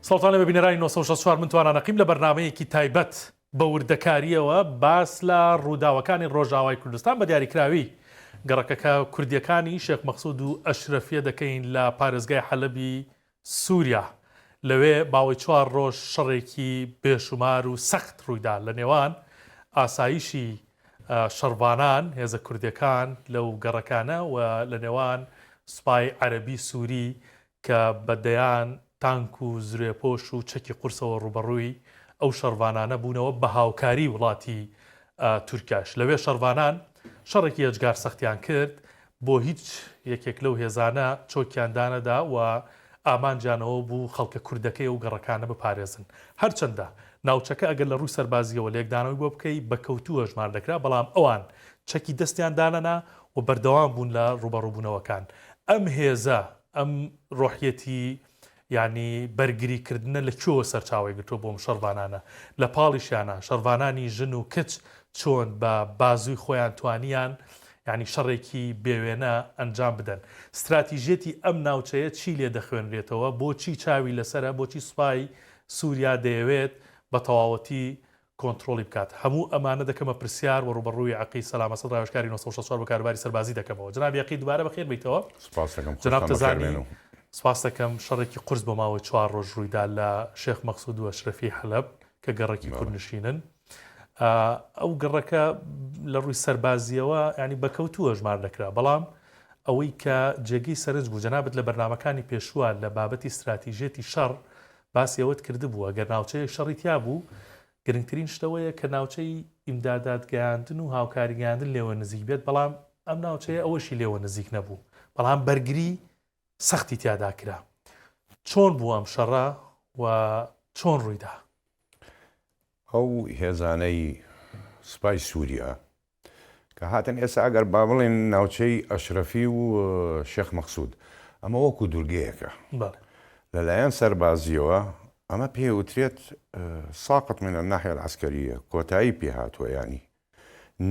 سڵتانە بە بینەرانی 1964 من توانانە قیم لە بەرنمەیەکی تایبەت بە وردەکاریەوە باس لە ڕووداوەکانی ڕۆژاوای کوردستان بە دیاریکراوی گەڕەکەکە کوردیەکانی شێخ مەخصود و ئەشرەفیە دەکەین لە پارێزگای حەلبی سووریا، لەوێ ماوەی چوار ڕۆژ شەڕێکی بێشومار و سەخت ڕوویدا لە نێوان ئاسایشی شەڕڤانان، هێزە کوردیەکان لەو گەڕەکانە، و لە نێوان سوپای عەرەبی سووری کە بە دەیان تانک و زرێپۆش و چەکی قورسەوە ڕووبەڕووی ئەو شەڕڤانانە بوونەوە بە هاوکاری وڵاتی تورکیاش لەوێ شەڕڤانان شەڕێکی ئێجگار سەختیان کرد بۆ هیچ یەکێک لەو هێزانە چۆکیان دانەدا و ئامانجیان ئەوە بوو خەڵکە کوردەکەی ئەو گەڕەکانە بپارێزن. هەرچەندە ناوچەکە ئەگەر لە ڕووی سەربازییەوە لێکدانەوەی بۆ بکەی بە کەوتوو هەژمار دەکرا، بەڵام ئەوان چەکی دەستیان دانەنا و بەردەوام بوون لە ڕووبەڕووبوونەوەکان. ئەم هێزە، ئەم ڕۆحیەتی یانی بەرگری کردنە لە کوێوە سەرچاوەی گرتووە بۆ ئەم شەڕڤانانە؟ لە پاڵیشیانا شەڕڤانانی ژن و کچ چۆن بە بازووی خۆیان توانیان یانی شەڕێکی بێوێنە ئەنجام بدەن؟ ستراتیژیەتی ئەم ناوچەیە چی لێ دەخوێنرێتەوە؟ بۆچی چاوی لەسەرە؟ بۆچی سوپای سوریا دەیەوێت بە تەواوەتی کۆنتڕۆڵی بکات هەموو ئەمانە دەکەمە پرسیار وە ڕووبەڕووی عەقید سەلام ئەسەد ڕاوێژکاری نۆ سەد و شەست و چوار بۆ کاروباری سەربازی دەکەمەوە جەنابی عەقید دوبارە بەخێر بێیتەوە سوپاست دەکەم جەناب خۆشتان بەخێر تەزانی بێن و. سوپاست دەکەم شەڕێکی قورس بۆ ماوەی چوار ڕۆژ ڕوویدا لە شێخ مەقسود و ئەشرەفیەی حەلەب کە گەڕەکی بەڵێ. کوردنشینن ئا ئەو گەڕەکە لە ڕووی سەربازیەوە یانی بەکەوتوو هەژمار دەکرا بەڵام ئەوەی کە جێگەی سەرنج بوو جەنابت لە بەرنامەکانی پێشووە لە بابەتی ستراتیژیەتی شەڕ باسی ئەوەت کردبوو ئەگەر ناوچەیەک شەڕی تیا بوو، گرنگترین شت ئەوەیە کە ناوچەی ئیمدادات گەیاندن و هاوکاری گەیاندن لێوە نزیک بێت، بەڵام ئەم ناوچەیە ئەوەشی لێوە نزیک نەبوو، بەڵام بەرگری سەختی تیادا کرا. چۆن بوو ئەم شەڕە و چۆن ڕوویدا؟ ئەو هێزانەی سوپای سووریا کە هاتن ئێستا ئەگەر با بڵێن ناوچەی ئەشرەفی و شێخ مەقسود ئەمە وەکو دورگەیەکە لەلایەن سەربازیەوە ئەمە پێ وترێت ساقت من الناحیە العسکریە کۆتایی پێ هاتووە یانی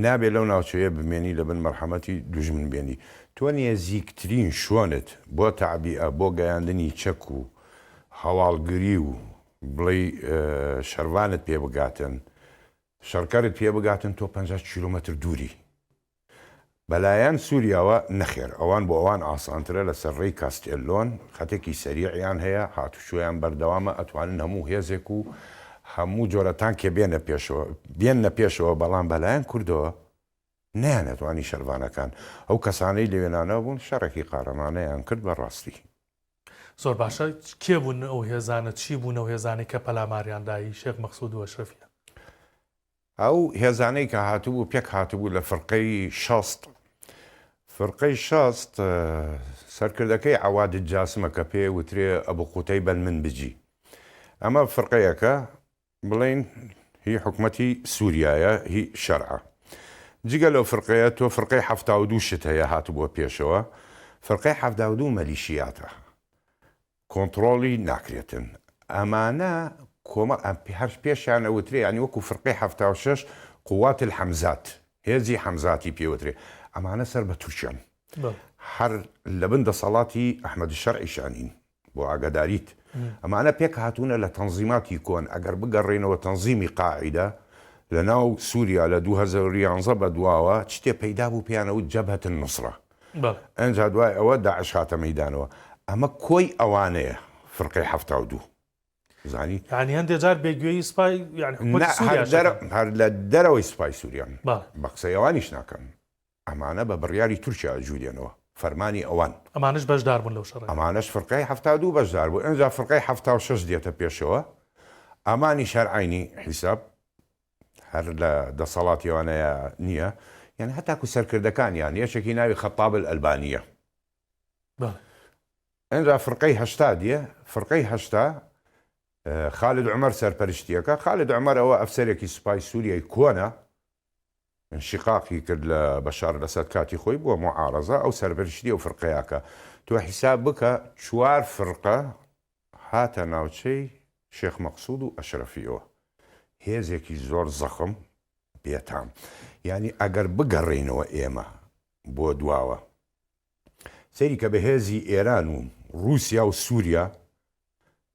نابێت لەو ناوچەیە بمێنی لە بن مەرحەمەتی دوژمن بێنی تۆ نێزیکترین شوێنت بۆ تەعبیئە بۆ گەیاندنی چەک و هەواڵگری و بڵێی شەرڤانت پێ بگاتن شەڕکەرت پێ بگاتن تۆ پەنجا کیلۆمەتر دووری. بەلایەن سوریاوە نەخێر ئەوان بۆ ئەوان ئاسانترە لەسەر ڕێی کاستێلۆن خەتێکی سەریعیان هەیە هاتوچۆیان بەردەوامە ئەتوانن هەموو هێزێک و هەموو جۆرە تانکێ بێنە پێشەوە بێننە پێشەوە بەڵام بەلایەن کوردەوە نەیانتوانی شەرڤانەکان، ئەو کەسانەی لە وێنانە بوون، شەڕێکی قارەمانەیان کرد بە ڕاستی. زۆر باشە کێ بوون ئەو هێزانە؟ چی بوون ئەو هێزانەی کە پەلاماریان دا هی شێخ مەقسوود و ئەشرەفیان؟ ئەو هێزانەی کە هاتبوو پێک هاتبوو لە فرقەی شەست، فرقەی شەست سەرکردەکەی عەواد جاسمە کە پێێ وترێ ئەبو قوتەیبە المنبجی، ئەمە فرقەیەکە، بڵێن هی حکومەتی سوریایە هی شەرعە جگە لەو فرقەیە تۆ فرقەی حەفتا و دوو شت هەیە هاتبووە پێشەوە فرقەی حەفتا و دوو مەلیشیاتە کۆنتڕۆڵی ناکرێتن ئەمانە کۆمەڵ ئەم پێ هەر پێشیان ئەوترێ یانی وەکو فرقەی حەفتا و شەش قوات الحەمزات هێزی حەمزاتی پێوترێ ئەمانە سەر بە تورکیان هەر لەبن دەسەڵاتی ئەحمەد شەرعیشانین بۆ ئاگاداریت ئەمانە پێک هاتوونە لە تەنزیماتی کۆن ئەگەر بگەڕێینەوە تەنزیمی قاعیدە لە ناو سوریا لە دوو هەزار و یانزە بە دواوە چتێ پەیدا بوو پێیان ئەوت جەبهەت النوسرە ئەنجا دوای ئەوە داعش هاتە مەیدانەوە ئەمە کۆی ئەوانەیە فرقەی حەفتا و دوو زانی یعنی هەندێک جار بێ گوێی سپای یعنی حکومەتی سوریا نا هەر لە دەرەوەی سپای سوریان بە قسەی ئەوانیش ناکەن ئەمانە بە بڕیاری تورکیا ئەجولێنەوە فەرمانی ئەوان. ئەمانەش بەشدار بوون لەو شەڕەی. ئەمانەش فرقەی حەفتا دوو بەشدار بوو ئنجا فرقەی حەفتا و شەش دێتە پێشەوە ئەمانیش هەر عەینی حیساب هەر لە دەسەڵاتی ئەوانەیا نیە یان هەتاکو سەرکردەکانیان یەکێکی ناوی خەتاب الالبانیە بەڵێ. ئنجا فرقەی هەشتا دێ فرقەی هەشتا خالد عومەر سەرپەرشتیەکە خالد عومەر ئەوە ئەفسەرێکی سوپای سوریای کۆنە انشقاقی کرد لە بەشار الاسد کاتی خۆی بوە معارضە ئەو سەرپەرشتی ئەو فرقەیاکا تۆ حیساب بکە چوار فرقە هاتە ناوچەی شێخ مەقسود و اشرفیەوە هێزێکی زۆر زەخم بێتام یانی ئەگەر بگەڕێینەوە ئێمە بۆ دواوە سەیری کە بەهێزی ئێران و روسیا و سوریا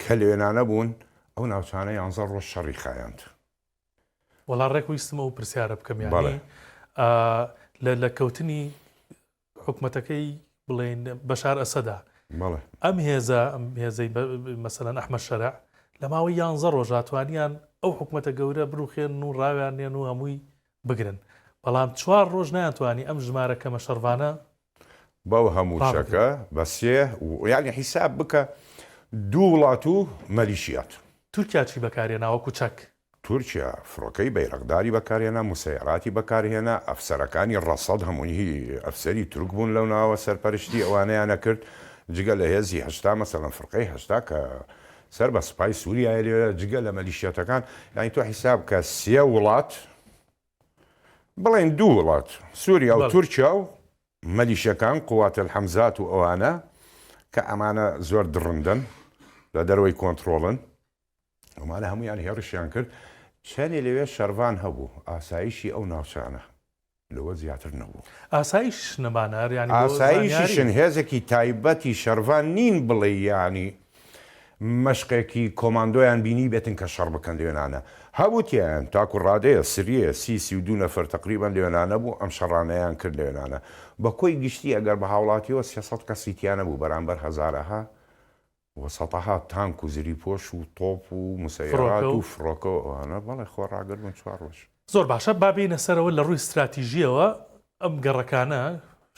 کە لەوێنانە بوون ئەو ناوچانە یانزە ڕۆژ شەڕی خایاند وەڵا ڕێک ویستم ئەو پرسیارە بکەم یانی لە لە کەوتنی حکومەتەکەی بڵێن بەشار ئەسەدا ئەم هێزە هێزەی مەسەەن ئەحمە شەرع لە ماوەی یانزە ڕۆژاتوانیان ئەو حکومەتە گەورە بروخێن و ڕاویان نێن و هەمووی بگرن بەڵام چوار ڕۆژ ناتوانانی ئەم ژمارە کەمە شەڕڤانە بەو هەموو چەکە بە سێ یانی حیساب بکە دوو وڵات و مەلیشیات. تورکیا چی بەکارهێنا وەکو چەک؟ تورکیا فڕۆکەی بەیرەقداری بەکارهێنا، موسەیەراتی بەکارهێنا، ئەفسەرەکانی ڕەسەد هەمووی ئەفسەری تورک بوون لەو ناوە سەرپەرشتی ئەوانەیان ئەکرد جگە لە هێزی هەشتا مەسەلەن فرقەی هەشتا کە سەر بە سوپای سوریایە لێرە جگە لە مەلیشیاتەکان یانی تۆ حیساب بکە سێ وڵات بڵێن دوو وڵات، سوریا و تورکیا و مەلیشەکان، قوات الحمزات و ئەوانە، کە ئەمانە زۆر دڕندەن، لە دەرەوەی کۆنتڕۆڵن، ئەمانە هەموویان هێڕشیان کرد، چەنێ لەوێ شەڕڤان هەبوو، ئاسایشی ئەو ناوچانە لەوە زیاتر نەبوو. ئاسایشیش نەبانە، ئەر یانی بۆ زانیاری. ئاسایشیشن، هێزێکی تایبەتی شەڕڤان نین بڵێی یانی مەشقێکی کۆماندۆیان بینی بێتن کە شەڕ بکەن لەوێنانە هەبوو تیایان تاکو ڕادەیە سریە سی سی و دوو نەفەر تەقریبەن لەوێنانە بوو ئەم شەڕانەیان کرد لەوێنانە بەکۆی گشتی ئەگەر بەهاوڵاتیەوە سێ سەد کەسی تیانەبوو بەرامبەر هەزارەها و سەتەها تانک و زری پۆش و تۆپ و مسەیارات و فڕۆکە و ئەوانە بەڵێ خۆ ڕاگر بوون چوار ڕۆژ. زۆر باشە با بێینە سەرەوە لە ڕووی ستراتیژیەوە ئەم گەڕەکانە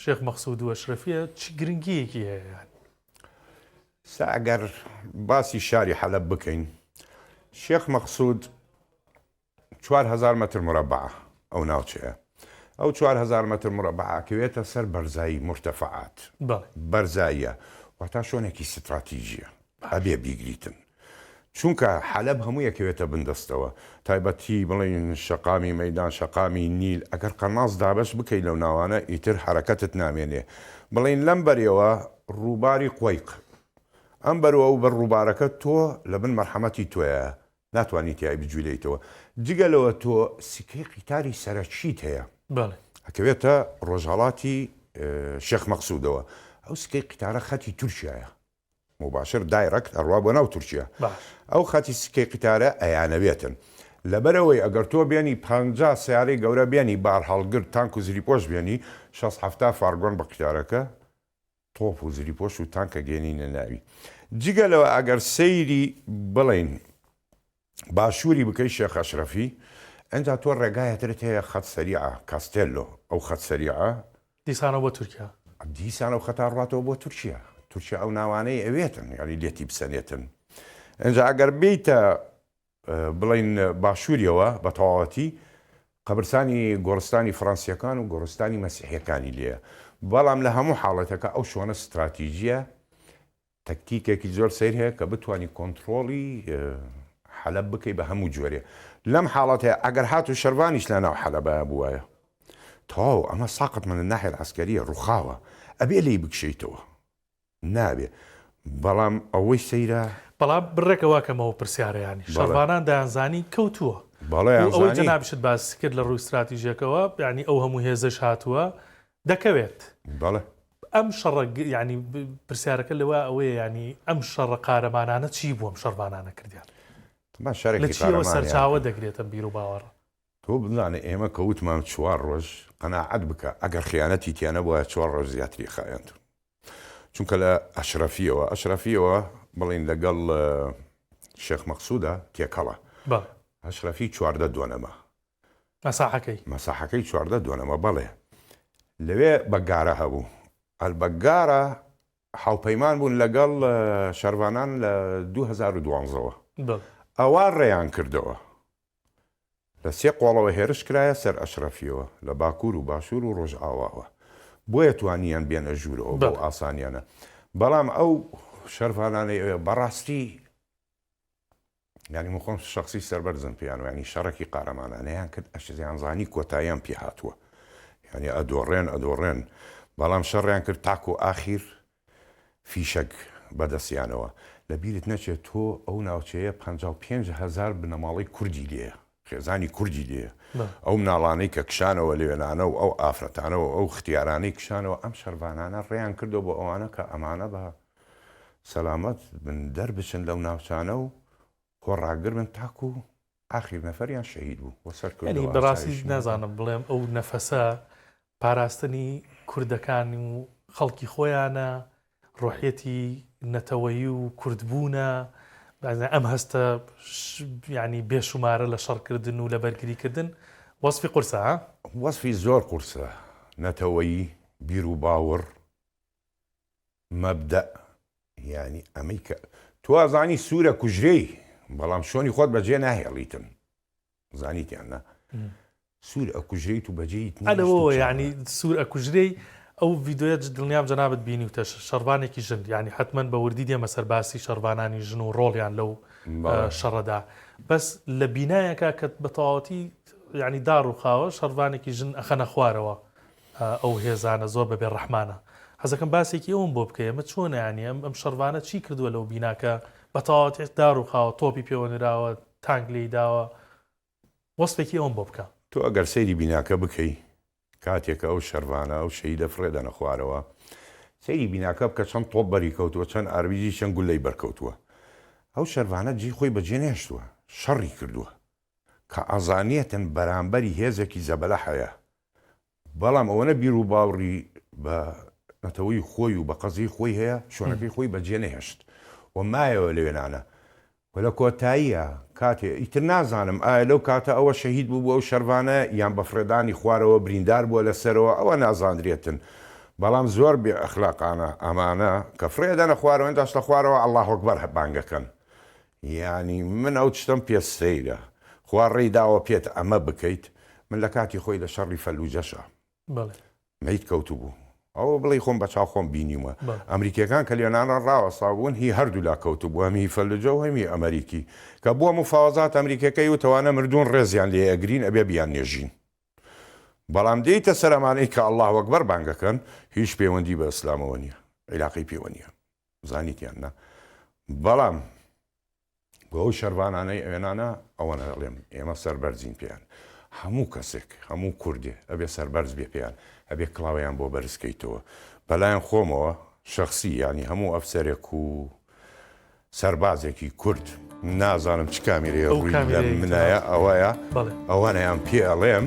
شێخ مەقسود و ئەشرەفیە چ گرنگیەکی هەیە یان سا ئەگەر باسی شاری حەلەب بکەین شێخ مەقسود چوار هەزار مەتر مرەبعە ئەو ناوچەیە ئەو چوار هەزار مەتر مرەبعاکەوێتە سەر بەرزایی مرتەفعات بەرزاییە واتا شوێنێکی ستراتیژیە ئەبێ بیگریتن چونکە حەلەب هەموو یەکەوێتە بن دەستەوە تایبەتی بڵێین شەقامی مەیدان شەقامی نیل ئەگەر قەناس دابەش بکەی لەو ناوانە ئیتر حەرەکەتت نامێنێ بڵێین لەم بەرەوە ڕووباری قوەیق ئەم بەرو ئەو بەر ڕووبارەکە تۆ لە بن مەرحەمەتی تۆیە ناتوانی تیای بجولێیتەوە جگە لەوە تۆ سکەی قیتاری سەرەکیت هەیە ئەکەوێتە ڕۆژهەڵاتی شێخ مەقسودەوە ئەو سکەی قیتارە خەتی تورکیایە موباشر دایرەکت ئەڕوا بۆ ناو تورکیا باش. ئەو خەتی سکەی قیتارە ئەیانەوێتن لەبەر ئەوەی ئەگەر تۆ بێنی پەنجا سەیارەی گەورە بێنی بارهەڵگر تانک و زریپۆش بێنی شەست حەفتا فارگۆن بە قیتارەکە تۆپ و زریپۆش و تانک ئەگەینینە ناوی جگە لەوە ئەگەر سەیری بڵێین باشوری بکەی شێخ ئەشرەفی ئینجا تۆ ڕێگایەترت هەیە خەت سەریعە کاستێلۆ ئەو خەت سەریعە دیسانەوە بۆ تورکیا. دیسان ئەو خەتە ڕواتەوە بۆ تورکیا تورکیا ئەو ناوانەی ئەوێتن یانی لێتی بسەنێتن ئینجا ئەگەر بێیتە بڵێن باشوریەوە بە تەواوەتی قەبرسانی گۆڕستانی فڕەنسیەکان و گۆڕستانی مەسیحیەکانی لێە بەڵام لە هەموو حاڵەتەکە ئەو شۆنە ستراتیژیە تەکتیکێکی زۆر سەیر هەیە کە بتوانی کۆنتڕۆڵی حەلەب بکەی بە هەموو جۆرێ لەم حاڵەتەیە ئەگەر هاتو شەرڤانیش لە ناو حەلەبایا بوایە تەواو ئەمە ساقط من الناحیە العسکریە ڕوخاوە ئەبێ لێی بکشێیتەوە نابێ بەڵام ئەوەی سەیرە بەڵام بڕێکە وا کەمەوە پرسیارەیانی شەرڤانان دەیانزانی کەوتووە و ئەوەی جەنابیشت باسی کرد لە ڕووی ستراتیژیەکەوە یانی ئەو هەموو هێزەش هاتووە دەکەوێت بەڵێ ئەم شەڕە یعنی پرسیارەکە لەوە ئەوەیە ینی ئەم شەڕە قارەمانانە چی بووم شەرمانانە کردیان سەرچاوە دەگرێتم بیر و باوەڕ تۆ بزانێ ئێمە کەوتمان چوار ڕۆژ قەنەعەت بکە ئەگەر خیانەتی تیانە بووە چوار ڕۆژ زیاتری خایەنت چونکە لە ئەشرەفیەوە ئەشرەفیەوە بڵین لەگەڵ شێخ مەقصودا تێکەڵە ئەشرەفی چواردە دۆنەما مەساحەکەی. مەساحەکەی چواردە دۆنمە، بەڵێ. لەوێ بەگگارە هەبوو. ئەلبەگگارە هاوپەیمان بوون لەگەڵ شەرڤانان لە دوو هەزار و دوازدە وە. ئەوا ڕێیان کردەوە. لە سێ قۆڵەوە هێرش کرایە سەر ئەشرەفییەوە، لە باکوور و باشوور و ڕۆژئاواوە. بۆیە توانییان بێنە ژوورەوە بەو ئاسانییانە. بەڵام ئەو شەرڤانانەی ئەوێ بەڕاستی. یانی من خۆم شەخسی سەربەرزم پێیان و یانی شەڕەکی قارەمانانەیان کرد ئەشزیان زانی کۆتاییان پێ هاتووە یانی ئەدۆڕێن ئەدۆڕێن بەڵام شەڕیان کرد تاکو ئاخیر فیشەک بەدەستیانەوە لەبیرت نەچێت تۆ ئەو ناوچەیە پەنجا و پێنج هەزار بنەماڵەی کوردی لێیە خێزانی کوردی لێیە ئەو مناڵانەی کە کشانەوە لەوێنانە و ئەو ئافرەتانە و ئەو ختیارانەی کشانەوە ئەم شەرڤانانە ڕێیان کردوە بۆ ئەوانە کە ئەمانە بە سەلامەت بن دەربچن لەو ناوچانە و خۆ ڕاگر بن تاکو ئاخیر نەفەریان شەهید بوو وە سەر کردوە. بەڕاستی نازانم بڵێم ئەو نەفەسە پاراستنی کوردەکان و خەڵکی خۆیانە، ڕۆحیەتی نەتەوەیی و کوردبوونە، ئەم هەستە یانی بێ شومارە لە شەڕکردن و لە بەرگریکردن، وەسفی قورسە ها؟ وەسفی زۆر قورسە، نەتەوەیی، بیروباوەڕ، مەبدەئ، یانی ئەمەی کە تۆ ئەزانی سوورە کوژرێی، بەڵام شۆنی خۆت بەجێ ناهێڵیتن. زانیت یان نا سوور ئەکوژرێیت و بەجێیت نیت ئەرەوە شتێکی یعنی ئەوە. سوور ئەکوژرێی ئەو ڤیدۆیە ج- دڵنیام جەنابت بینیوتە ش- شەڕڤانێکی ژن یعنی حەتمەن بە وردی دێمە سەر باسی شەڕڤانانی ژن و ڕۆڵیان لەو بەڵێ. ئە، شەڕەدا بەس لە بینایەکە کە بە تەواوەتی یعنی داڕووخاوە شەڕڤانێکی ژن ئەخەنە خوارەوە ئە، ئەو هێزانە زۆر بە بێ ڕەحمانە حەزەکەم باسێکی ئەوەم بۆ بکەی ئەمە چۆنە یانی ئەم ئەم شەڕڤانە چی کردووە لەو بینا کە بە تەواوەتی داڕووخاوە تۆپی پێوە نراوە تانک لێی داوە وەسفێکی ئەوم بۆ بکە. تۆ ئەگەر سەیری بیناکە بکەی کاتێک ئەو شەرڤانە ئەو شەهیدە فڕێ دەنە خوارەوە سەیری بیناکە بکە چەند تۆپ بەری کەوتووە چەند ئاربیجی چەند گولەی بەر کەوتووە ئەو شەرڤانە جێی خۆی بەجێ نەهێشتووە شەڕی کردووە کە ئەزانێتن بەرامبەری هێزێکی زەبەلاح هەیە بەڵام ئەوەنە بیروباوڕی بە نەتەوەی خۆی و بە قەزیەی خۆی هەیە شوێنەکەی خۆی بە جێنەهێشت و مایەوە لە وێنانە و لە کۆتاییا کاتێ ئیتر نازانم ئایا لەو کاتە ئەوە شەهید بووبوو ئەو شەرڤانە یان بە فڕێدانی خوارەوە بریندار بووە لە سەرەوە ئەوە نازاندرێتن بەڵام زۆر بێ ئەخلاقانە ئەمانە کە فڕێ ئەدەنە خوارەوە ئێنداش لە خوارەوە اللە اکبر بانگ ئەکەن یانی من ئەو چتەم پێ سەیرە. خوا ڕێی داوە پێت ئەمە بکەیت من لە کاتی خۆی لە شەڕی فەلوجەشا بەڵێ. مەیت کەوتبوو ئەوە بڵێی خۆم بە چاو خۆم بینیومە بەڵێ. ئەمریکیەکان کە لێنانان ڕاوەستابوون هی هەردوولا کەوتبوو هەم هی فەلوجە و هەم هی ئەمەریکی کە بووە مفاوەزات ئەمریکیەکە یوت ئەوانە مردوون ڕێزیان لێ ئەگرین ئەبێ بیان نێژین بەڵام دێیتە سەر ئەمانەی کە اللە اکبر بانگ ئەکەن هیچ پەیوەندی بە ئیسلامەوە نیە عیلاقەی پێوە نیە. زانیت یان نا بەڵام بۆ ئەو شەرڤانانەی ئەوێنانە ئەوەنە دەڵێم ئێمە سەربەرزین پێیان هەموو کەسێک هەموو کوردێ ئەبێ سەربەرز بێ پێیان ئەبێ کڵاویان بۆ بەرزکەیتەوە بەلایەن خۆمەوە شخصی ینی هەموو ئەفسەرێک و سەربازێکی کورد نازانم چ کامیرێ ڕووی منایە ئەوەیە ئەوانەیان پێ ئەڵێم.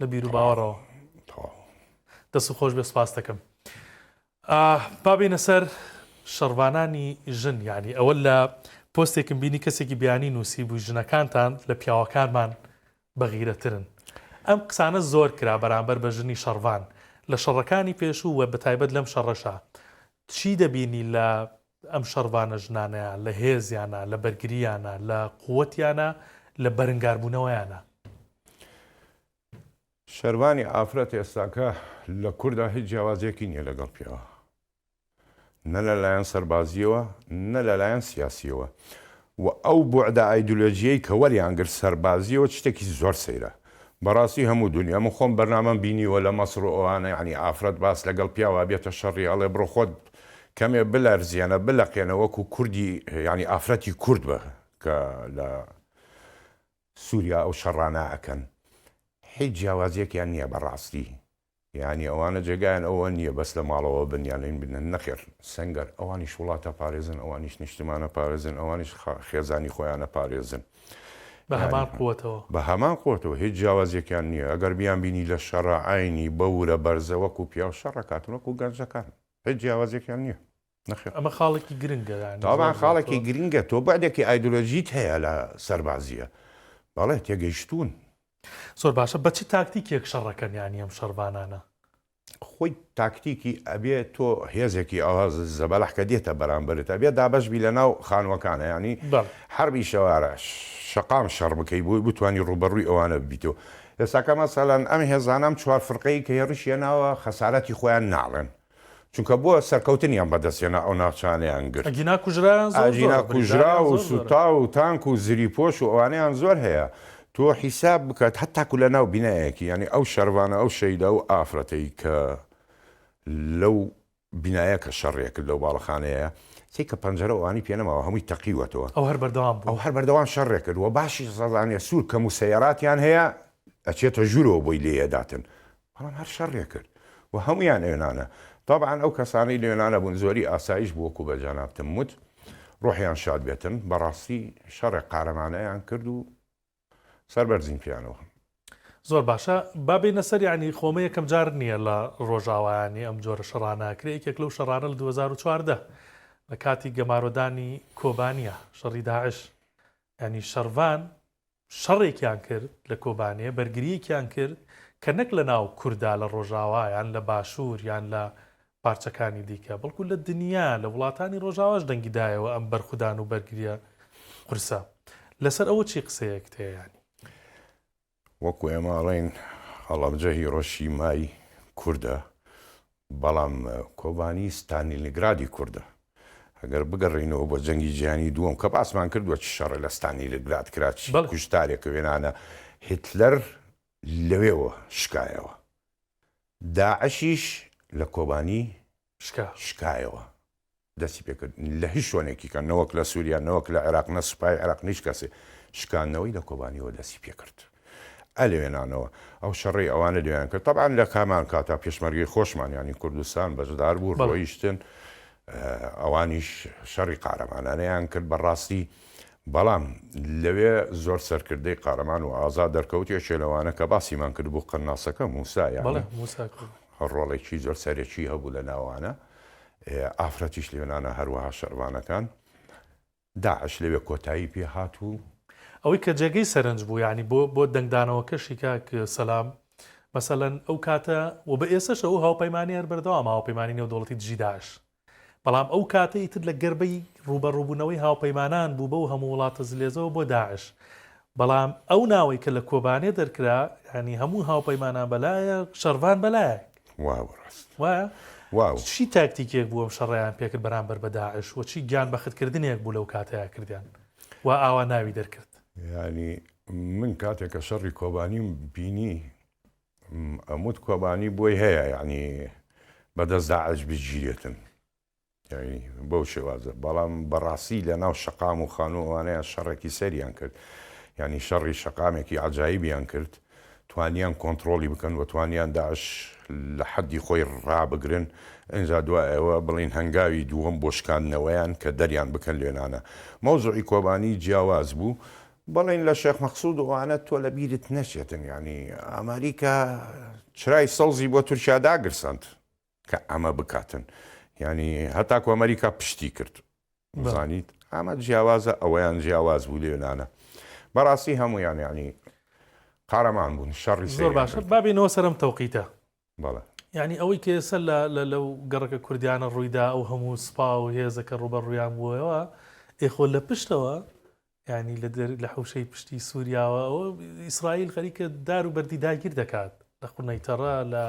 لە بیر و باوەڕەوە دەست خۆش بێ سپاستەکەم بابینە سەر شەڕوانانی ژن یعنی ئەوە لە پۆستێکم بینی کەسێکی بیانی نووسی بوو ژنەکانتان لە پیاوەکانمان بەغیرەترن ئەم قسانە زۆر کرا بەرامبەر بە ژنی شەڕوان لە شەڕەکانی پێشوو وە بەتایبەت لەم شەڕەشە چی دەبینی لە ئەم شەڕڤانە ژنانەیە لە هێزیانە، لە بەرگرییانە، لە قووەتیانە، لە بەرنگاربوونەوەیانە. شەرڤانی ئافرەت ئێستاکە لە کوردا هیچ جیاوازییەکی نییە لەگەڵ پیاوە. نە لەلایەن سەربازییەوە، نە لەلایەن سیاسییەوە. و ئەو بوعدە ئایدولۆجیەی کە وەریان گرت سەربازیەوە چتێکی زۆر سەیرە بەڕاستی هەموو دونیا من خۆم بەرنامەم بینیوە لە مەسڕ و ئەوانە یەعنی ئافرەت باس لەگەڵ پیاو ئەبێتە شەڕی ئەڵێ بڕۆ خۆت کەمێ بلەرزێنە بلەقێنە وەکو کوردی یەعنی ئافرەتی کورد بە کە لە سوریا ئەو شەڕانە ئەکەن هیچ جیاوازیەکیان نیە بەڕاستی یانی ئەوانە جێگایان ئەوە نیە بەس لە ماڵەوە بن یان لین بنن نەخێر سەنگەر ئەوانیش وڵاتە پارێزن ئەوانیش نیشتمانە پارێزن ئەوانیش خێزانی خۆیانە پارێزن بە هەمان قوەتەوە بە هەمان قوەتەوە هیچ جیاوازیەکیان نیە ئەگەر بیان بینی لە شەڕە عەینی بەورە بەرزە وەکو پیاو شەڕەکاتن وەکو گەنجەکان هیچ جیاوازیەکیان نیە. نەخێر. ئەمە خاڵێکی گرنگە یانی. تابان خاڵێکی گرنگە تۆ بەعدێکی ئایدۆلۆژیت هەیە لە سەربازیە بەڵێ تێگەیشتوون. زۆر باشە بە چ تاکتیکێک شەڕەکەن یانی ئەم شەڕڤانانە؟ خۆی تاکتیکی ئەبێ تۆ هێزێکی ئەوە زەبەلاح کە دێتە بەرامبەرت ئەبێ دابەش بی لەناو خانووەکانە یانی حەربی شەوارە شەقام شەڕ بکەی بۆی بتانی ڕووبەڕووی ئەوانە ببیتەوە ئێستاکە مەسەلەن ئەم هێزانە ئەم چوار فرقەی کە هێڕشیە ناوە خەسارەتی خۆیان ناڵێن چونکە بۆ سەرکەوتنیان بەدەست هێنا ئەو ناوچانەیان گرت. ئەگینا کوژرایان زۆر زۆرە. ئەگینا کوژرا و سوتا و تانک و زری پۆش و ئەوانەیان زۆر هەیە. تۆ حیساب بکە هەتاکو لە ناو بینایەکی یانی ئەو شەرڤانە ئەو شەیدا و ئافرەتەی کە لەو بینایە کە شەڕیە کرد لەو باڵەخانەیە چی کە پەنجەرە و ئەوانی پێ نەماوە هەمووی تەقیوەتەوە. ئەو هەر بەردەوام بوو. ئەو هەر بەردەوام شەڕێ کرد و باشیش زانیە سوور کەم و سەیاراتیان هەیە ئەچێتە ژوورەوە بۆی لێ ئەداتن. بەڵام هەر شەڕێ کرد و هەموویان ئێنانە. تەبعەن ئەو کەسانەی لێنانە بوون زۆری ئاسایش بوو وەکوو بە جەنابتم وت ڕۆحیان شاد بێتن بەڕاستی شەڕێ قارەمانەیان کرد و سەربەرزین پێیانەوە. زۆر باشە با بێینە سەر یانی خۆمە یەکەم جار نیە لە ڕۆژاوا یانی ئەم جۆرە شەڕانە ئەکرێ یەکێک لەو شەڕانە لە دوو هەزار و چواردە لە کاتی گەمارۆدانی کۆبانیە شەڕی داعش یانی شەڕڤان شەڕێکیان کرد لە کۆبانێ بەرگریەکیان کرد کە نەک لە ناو کوردا لە ڕۆژاوا یان لە باشور یان لە پارچەکانی دیکە بەڵکو لە دنیا لە وڵاتانی ڕۆژاواش دەنگی دایەوە ئەم بەرخودان و بەرگریە قورسە لەسەر ئەوە چی قسەیەکت هەیە یانی. وەکو ئێمە ئەڵێین هەڵەبجە هیڕۆشیمای کوردە بەڵام کۆبانی ستانیلگرادی کوردە. ئەگەر بگەڕێینەوە بۆ جەنگی جیهانی دووەم کە باسمان کردووە چ شەڕێ لە ستانیلگراد کرا، چ کوشتارێک و هێنانە هیتلەر لەوێوە شکایەوە. داعشیش لە کۆبانی شکایەوە. دەستی پێ کرد لە هیچ شوێنێکی کە نەوەک لە سوریا نەوەک لە عێراق نە سوپای عێراق نیچ کەسێ شکاندنەوەی لە کۆبانیەوە دەستی پێ کرد ئە لەوێنانەوە ئەو شەڕی ئەوانە لێیان کرد تەبعەن لە کامان کاتا پێشمەرگەی خۆشمان یانی کوردستان بەژدار بوو ڕۆیشتن ئەوانیش شەڕی قارەمانانەیان کرد بەڕاستی بەڵام لەوێ زۆر سەرکردەی قارەمان و ئازا دەرکەوت یەکێ لەوانە کە باسیمان کرد بوو قەناسەکە موسایە ڕۆڵێکی زۆر سەرەکی هەبوو لە ناوانە ئافرەتیش لەوێنانە هەروەها شەرڤانەکان. داعش لەوێ کۆتایی پێ هات و. ئەوەی کە جێگەی سەرنج بوو یانی بۆ بۆ دەنگدانەوەکەشی کاک سەلام مەسەلەن ئەو کاتە و بە ئێسەش ئەو هاوپەیمانیە هەر بەردەوامە هاوپەیمانی نێودەوڵەتی دژی داعش بەڵام ئەو کاتە ئیتر لە گەربەی ڕووبەڕووبوونەوەی هاوپەیمانان بوو بەو هەموو وڵاتە زلێزەوە بۆ داعش بەڵام ئەو ناوەی کە لە کۆبانێ دەرکرا یانی هەموو هاوپەیمانان بەلایەک شەڕڤان بەلایەک واو ڕاست وایە؟ واو. چی تاکتیکێک بوو ئەم شەڕەیان پێکرد بەرامبەر بە داعش و چی گیان بەخت کردنێک بوو لەو کاتەیا کردیان وا ئاوا ناوی دەرکرد؟ یانی من کاتێک کە شەڕی کۆبانیم بینی ئەموت کۆبانی بۆی هەیە یانی بەدەست داعش بگیرێتن یانی بەو شێوازە بەڵام بەڕاستی لە ناو شەقام و خانوو ئەوانەیان شەڕێکی سەریان کرد یانی شەڕی شەقامێکی عجایبیان کرد توانیان کۆنتترۆڵی بکەن و توانیان داعش لە حەدی خۆی ڕابگرن ئەجا دوای ئەوە بڵین هەنگاوی دووەم بۆ شکاندنەوەیان کە دەریان بکەن لێنانە مەوزعی کۆبانی جیاواز بوو بڵین لە شێخ مەقسود ئەوانە تۆ لە بیرت نەچێتن یانی ئەمریکا چرای سەوزی بۆ تورکیا داگرساند کە ئەمە بکاتن یانی هەتاکو ئەمەریکا پشتی کرد بزانیت ئەمە جیاوازە ئەوەیان جیاواز بوو لێنانە بەڕاستی هەمویان یانی قارەمان بوون شەڕی زۆر باشە بابینەوە سەرم تەوقیتە بەڵێ ینی ئەوەی کێسە لە لە لەو گەڕەکە کوردیانە ڕوویدا ئەو هەموو سپا و هێزەکە ڕوبەر ڕویان بووەوە ئێخۆ لە پشتەوە یانی لە حوشەی پشتی سووریاوە ئەوە ئیسرائیل خەریکە دار و بەردی داگیر دەکات لە قونەیتەڕە لە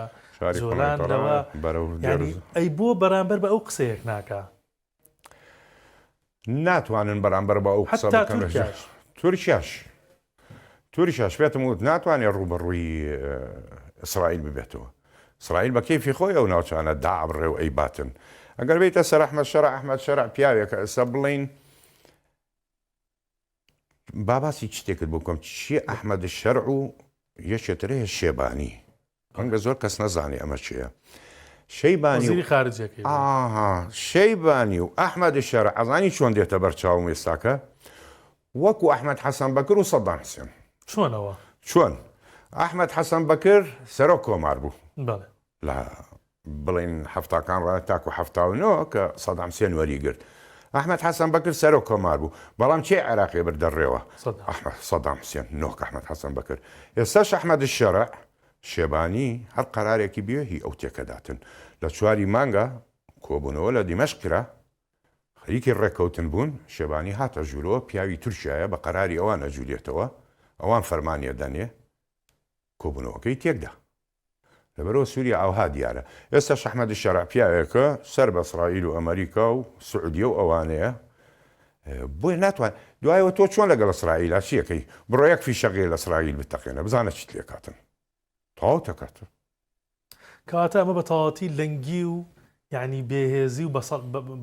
جۆلان لەوە ئەی بۆ بەرامبەر بە ئەو قسەیەک ناکە ناتوانن بەرامبەر بە ئەو قسە تورکیاش تورکیاش پێتم وت ناتوانێت ڕوبەڕووی ئیسرائیل ببێتەوە سرائیل بە کەیفی خۆی ئەو ناوچانە دابڕێ و ئەی باتن ئەگەر بیتە سەر ئەحمە شەر ئەحمد شەر پیاوێکە ئێستا بڵین با باسی چ شتێکت بۆ بکەم چیە ئەحمەد شەرع و یەکێ تر هەیە شێبانی ڕەنگە زۆر کەس نەزانێ ئەمە چیە شەیبانی وەزیری خارجەکەی ئاها شەیبانی و ئەحمەد شەرع ئەزانی چۆن دێتە بەرچاوم ئێستاکە وەکو ئەحمەد حەسەن بەکر و سەدام حسێن چۆنەوە چۆن ئەحمەد حەسەن بەکر سەرۆک کۆمار بوو بەڵێ لە بڵێین حەفتاکان ڕایە تاکو حەفتا و نۆ کە سەدام حسێن وەریگرت ئەحمەد حەسەن بەکر سەرۆک کۆمار بوو بەڵام کێ عێراقی بردە ڕێوە ئەحمەد سەدام حسێن نۆک ئەحمەد حەسەن بەکر ئێستاش ئەحمەد شەرع شێبانی هەر قەرارێکی بێ هی ئەو تێکەداتن لە چواری مانگە کۆبونەوە لە دیمەشق کرا خەریکی ڕێکەوتن بوون شێبانی هاتە ژورەوە پیاوی تورکیایە بە قەراری ئەوان ئەجولێتەوە ئەوان فەرمانی ئەدەنێ کۆبونەوەکەی تێکدا لەبەرئەوە سوریا ئاوها دیارە. ئێستاش ئەحمەد شەرع پیاوێکە سەر بە ئسڕائیل و ئەمەریکا و سعودیە و ئەوانەیە بۆیە ناتوان دوایەوە تۆ چۆن لەگەڵ ئسڕائیلا چیەکەی بڕۆ یەک فیشەقێ لە ئسڕائیل بتەقێنە بزانە چیت لێکاتن تەواو تەکاتن. کەواتە ئەمە بە تەواوەتی لەنگی و یانی بێهێزی و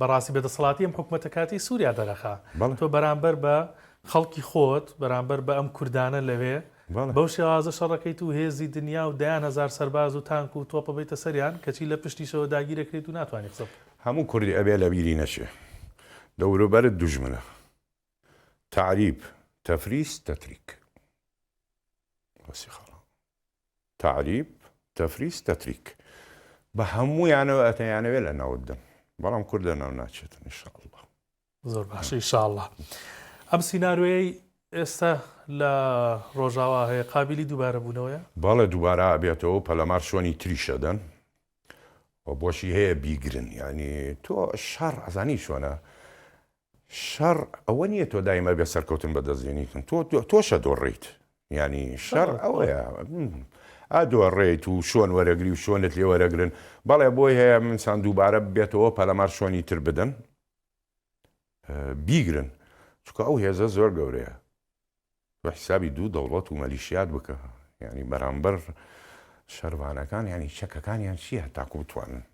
بەڕاستی بێدەسەڵاتی ئەم حکومەتە کاتی سووریا دەرەخا تۆ بەرامبەر بە خەڵکی خۆت بەرامبەر بە ئەم کوردانە لەوێ بەو شێوازە شەڕەکەیت و هێزی دنیا و دەیان هەزار سەرباز و تانک و تۆپە بەیتە سەریان کەچی لە پشتیشەوە داگیرەکرێت و ناتوانانی قسە بکەی. هەموو کوردی ئەبێ لەبیری نەچێ دەوروبەرت دوژمنە تعریب تفریس تتریک. تەعریب، تەفریس، تەتریک بە هەموویانەوە ئەتەیانەوێ لە ناوت دەن بەڵام کورد لە ناو ناچێتن ان شاء اللە. زۆر باش ان شاء اللە ئەم سینارۆیەی ئێستا لە ڕۆژاوا هەیە قابیلی دووبارە بوونەوەیە؟ بەڵێ دووبارە ئەبێتەوە پەلەمار شوێنی تریش ئەدەن و بۆشی هەیە بیگرن یانی تۆ شەڕ ئەزانی چۆنە شەڕ ئەوە نیە تۆ دای مەرگە سەرکەوتن بەدەست دێنیتن تۆ تۆشە دۆڕیت یانی شەڕ ئەوەیە ئادۆڕێیت و شۆن وەرەگری و شۆنت لێ وەرەگرن بەڵێ بۆی هەیە منسان دووبارە بێتەوە پەلەمار شۆنی تر بدەن بیگرن چکە ئەو هێزە زۆر گەورەیە بە حسابی دوو دەوڵەت و مەلیشیات بکە ینی بەرامبەر شەرڤانەکان ینی چەکەکانیان چییە تاکو بتوانن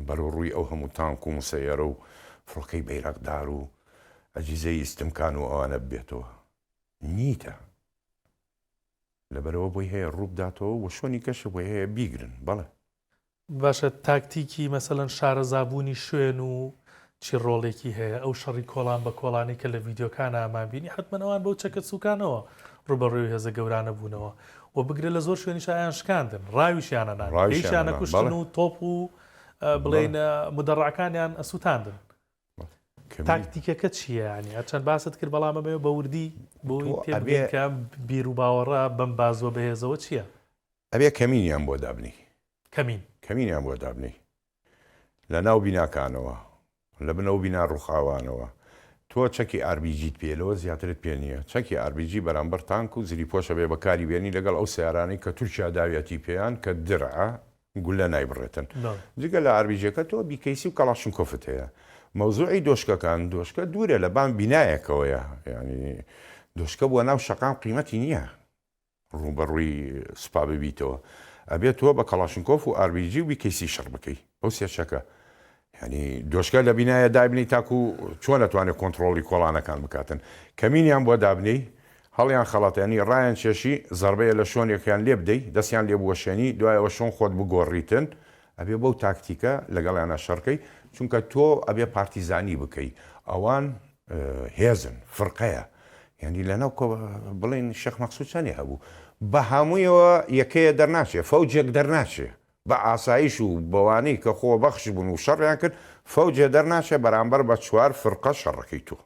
بەرەو ڕووی ئەو هەموو تانک و مسەیەرە و فڕۆکەی بەیراقدار و ئەجیزەی ئیستمکان و ئەوانە ببێتەوە. نیتە. لەبەرئەوە بۆی هەیە ڕوو بداتەوە و شۆنی کەشە بۆی هەیە بیگرن. بەڵێ. باشە تاکتیکی مەسەلەن شارەزابوونی شوێن و چی ڕۆڵێکی هەیە ئەو شەڕی کۆڵان بە کۆڵانەی کە لە ڤیدیۆکانا مان بینی حەتمەن ئەوان بەو چەکە سوکانەوە ڕوبەڕوێ هێزە گەورانە بوونەوە وە بگرە لە زۆر شوێنیشا ئەیان شکاندن ڕاویشیانە نان ڕایشانە کوشتن و تۆپ و بڵێن مدەڕعەکانیان ئەسوتاندن تاکتیکەکە چییە ینی هەرچەند باست کرد بەڵام ئەمێ بە وردی بۆی تێبگەکە بیر و باوەڕە بەم بازوە بەهێزەوە چییە؟ ئەبێ کەمینیان بۆ دابنی کەمین کەمینیان بۆ دابنی لە ناو بیناکانەوە، لە بن ئەو بینا ڕووخاوانەوە، تۆ چەکی ئار بی جیت پێیە لەوە زیاترت پێ نییە، چەکی ئار بی جی بەرامبەر تانک و زریپۆشە بێ بەکاری بێنی لەگەڵ ئەو سەیارانەی کە تورکیا داویەتی پێیان کە درعە گولە نایبڕێتن جگە لە ئار بی جیەکە تۆ بی کەیسی و کەڵاشنکۆفت هەیە مەوزوعی دۆشکەکان دۆشکە دوورە لە بان بینایەکەوەیە یانی دۆشکە بۆ ناو شەقام قیمەتی نییە ڕووبەڕووی سوپا ببیتەوە ئەبێ تۆ بە کەڵاشنکۆف و ئار بی جی و بی کەی سی شەڕ بکەی ئەو سێ چەکە یانی دۆشکە لە بینایە دابنی تاکو چۆن ئەتوانێ کۆنتڕۆڵی کۆڵانەکان بکاتن کەمینیان بۆ دابنێی هەڵیان خەڵەتێنی ڕایان چێشی زەڕبەیە لە شۆنێکیان لێ بدەی دەستیان لێ بوەشێنی دوای ئەوە شۆن خۆت بگۆڕیتن ئەبێ بەو تاکتیکە لەگەڵیانا شەڕکەی چونکە تۆ ئەبێ پارتیزانی بکەی ئەوان هێزن فرقەیە یانی لەناو کۆ بڵێن شێخ مەقسود چەنێ هەبوو بەهەموویەوە یەکەیە دەرناچێ فەوجێک دەرناچێ بە ئاسایش و بەوانەی کە خۆ بەخش بوون و شەڕیان کرد فەوجێ دەرناچێ بەرامبەر بە چوار فرقە شەڕەکەی تۆ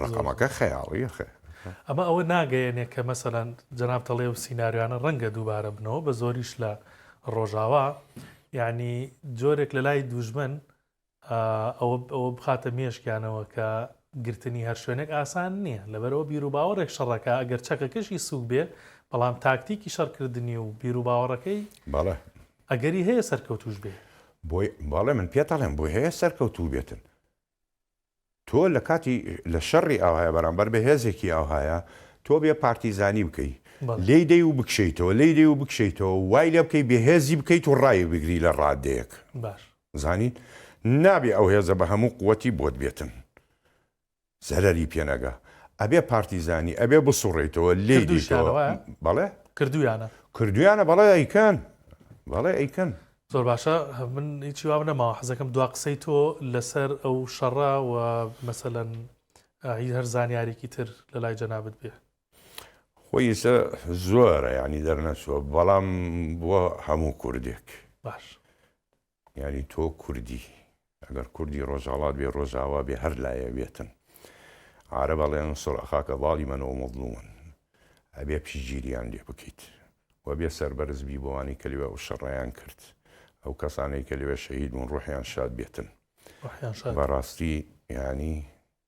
ڕەقەمەکە خەیاڵیە خێ. ئەمە ئەوە ناگەیەنێ کە مەسەلەن جەناب تەڵێ و سیناریانە ڕەنگە دووبارە بنەوە بە زۆریش لە ڕۆژاوا یعنی جۆرێک لە لای دوژمن ئەوە بخاتە مێشکیانەوە کە گرتنی هەر شوێنێک ئاسان نییە، لەبەرئەوە بیروباوەڕێک شەڕەکە ئەگەر چەکەکەشی سووک بێ، بەڵام تاکتیکی شەڕکردنی و بیروباوەڕەکەی ئەگەری هەیە سەرکەوتووش بێ. بۆی بەڵێ من پێتەڵێم بۆی هەیە سەرکەوتوو بێتن. تۆ لە کاتی لە شەڕی ئاوهایە بەرامبەر بە هێزێکی ئاوهایە تۆ بێ پارتیزانی بکەی لێی دەی و بکشێیتەوە لێی دەی و بکشێیتەوە و وای لێ بکەی بێ هێزی بکەیت و ڕای بگری لە ڕادەیەک زانین نابێ ئەو هێزە بە هەموو قوتی بۆت بێتن زەرەری پێنەگا ئەبێ پارتیزانی ئەبێ بسوڕێیتەوە لێ دوشەوە بەڵێ کردویانە کردویانە بەڵێ ئەیکەن بەڵێ ئەیکەن زۆر باشە من هیچی وام نەماوە حەزەکەم دوا قسەی تۆ لەسەر ئەو شەڕە و مەسەەن هی هەر زانیارێکی تر لە لای جەنابت بێ خۆی ئێستا زۆرە ینی دەرنەچوە بەڵام بووە هەموو کوردێک باش ینی تۆ کوردی ئەگەر کوردی ڕۆژهەڵات بێ ڕۆژاوا بێ هەر لایەک بێتن عارەب ئەڵێن انصر اخاک ظالما او مظلوما ئەبێ پشتگیریان لێ بکەیت و بێ سەربەرز بی بەوانەی کە لەوێ ئەو شەڕەیان کرد ئەو کەسانەی کە لەوێ شەهید بوون ڕوحیان شاد بێتن ڕوحیان شاد بێ. بەڕاستی یانی